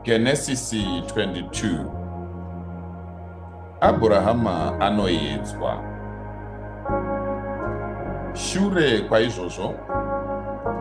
Genesisi 22 Abhurahama anoedzwa. Shure kwaizvozvo,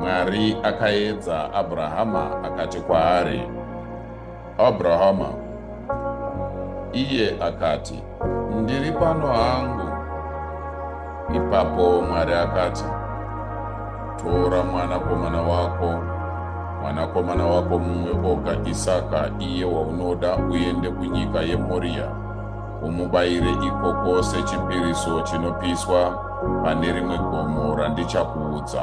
Mwari akaedza Abhurahama akati kwaari, Abhurahama, iye akati, Ndiri pano hangu. Ipapo Mwari akati, Tora mwanakomana wako, mwanakomana wako mumwe oga Isaka, iye waunoda, uende kunyika yeMoria, umubayire ikoko sechipiriso chinopiswa pane rimwe gomo randichakuudza.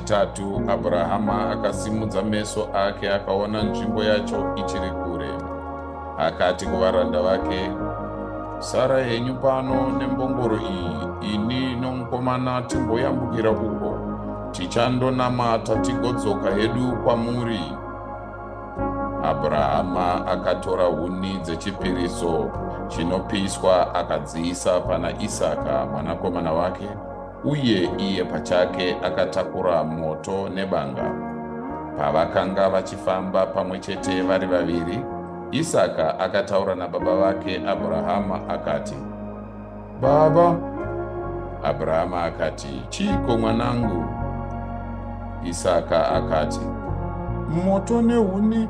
Chitatu, Abrahama akasimudza meso ake akaona nzvimbo yacho ichiri kure. Akati kuvaranda vake, Sara henyu pano nembongoro iyi, ini nomukomana timboyambukira uko, tichandonamata tigodzoka hedu kwamuri. Abrahama akatora huni dzechipiriso chinopiswa akadziisa pana Isaka mwanakomana wake. uye iye pachake akatakura moto nebanga. Pavakanga vachifamba pamwe chete vari vaviri, Isaka akataura nababa vake Abrahama akati, Baba! Abrahama akati, Chiiko mwanangu? Isaka akati, Moto nehuni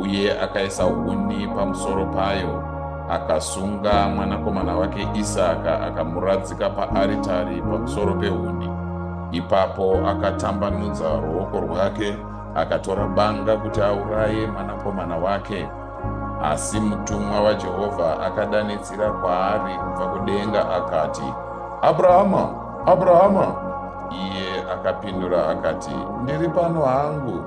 uye akaisa huni pamusoro payo akasunga mwanakomana wake isaka akamuradzika paaritari pamusoro pehuni ipapo akatambanudza ruoko rwake akatora banga kuti auraye mwanakomana wake asi mutumwa wajehovha akadanidzira kwaari kubva kudenga akati abrahama abrahama iye akapindura akati ndiri pano hangu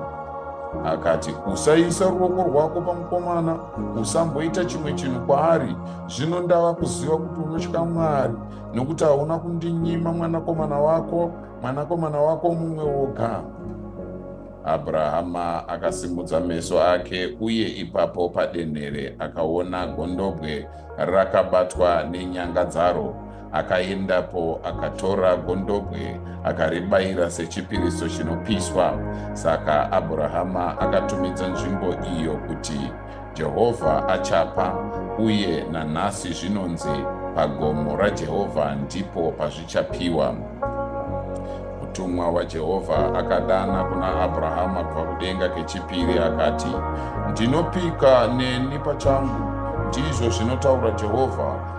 Akati, Usaisa ruoko rwako pamukomana, usamboita chimwe chinhu kwaari. Zvino ndava kuziva kuti unotya Mwari, nokuti hauna kundinyima mwanakomana wako, mwanakomana wako mumwe woga. Abrahama akasimudza meso ake, uye ipapo padenhere akaona gondobwe rakabatwa nenyanga dzaro. Akaendapo akatora gondobwe akaribayira sechipiriso chinopiswa. Saka Abhurahama akatumidza nzvimbo iyo kuti Jehovha achapa, uye nanhasi zvinonzi pagomo raJehovha ndipo pazvichapiwa. Mutumwa waJehovha akadana kuna Abhurahama kubva kudenga kechipiri akati, Ndinopika neni pachangu, ndizvo zvinotaura Jehovha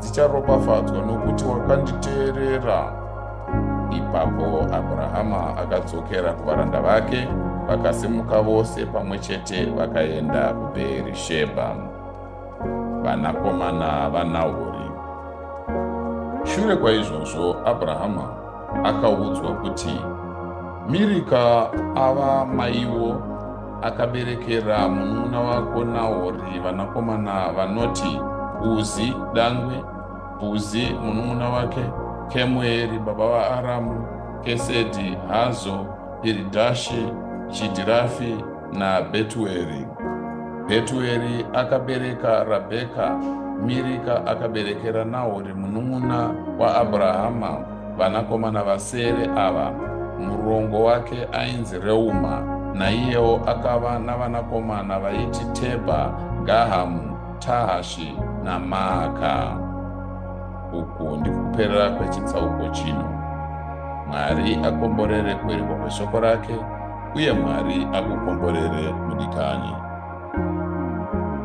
dzicharopafadzwa nokuti wakanditeerera ipapo abrahama akadzokera kuvaranda vake vakasimuka vose pamwe chete vakaenda kubeerishebha vanakomana vanahori shure kwaizvozvo abrahama akaudzwa kuti mirika ava maiwo akaberekera munun'una wako Nahori vanakomana vanoti Uzi, Dangwe, Bhuzi munun'una wake, Kemueri baba vaAramu, Kesedi, Hazo, Piridhashi, Chidhirafi naBhetueri. Bhetueri akabereka Rabheka, Mirika akaberekera Nahori munun'una waAbrahama. Vanakomana vasere ava, murongo wake ainzi Reuma, naiyewo akava navanakomana vaiti Tebha, Gahamu, Tahashi naMaaka. Uku ndikuperera kwechitsauko chino. Mwari akomborere kuerikwa kweshoko rake, uye Mwari akukomborere mudikanyi.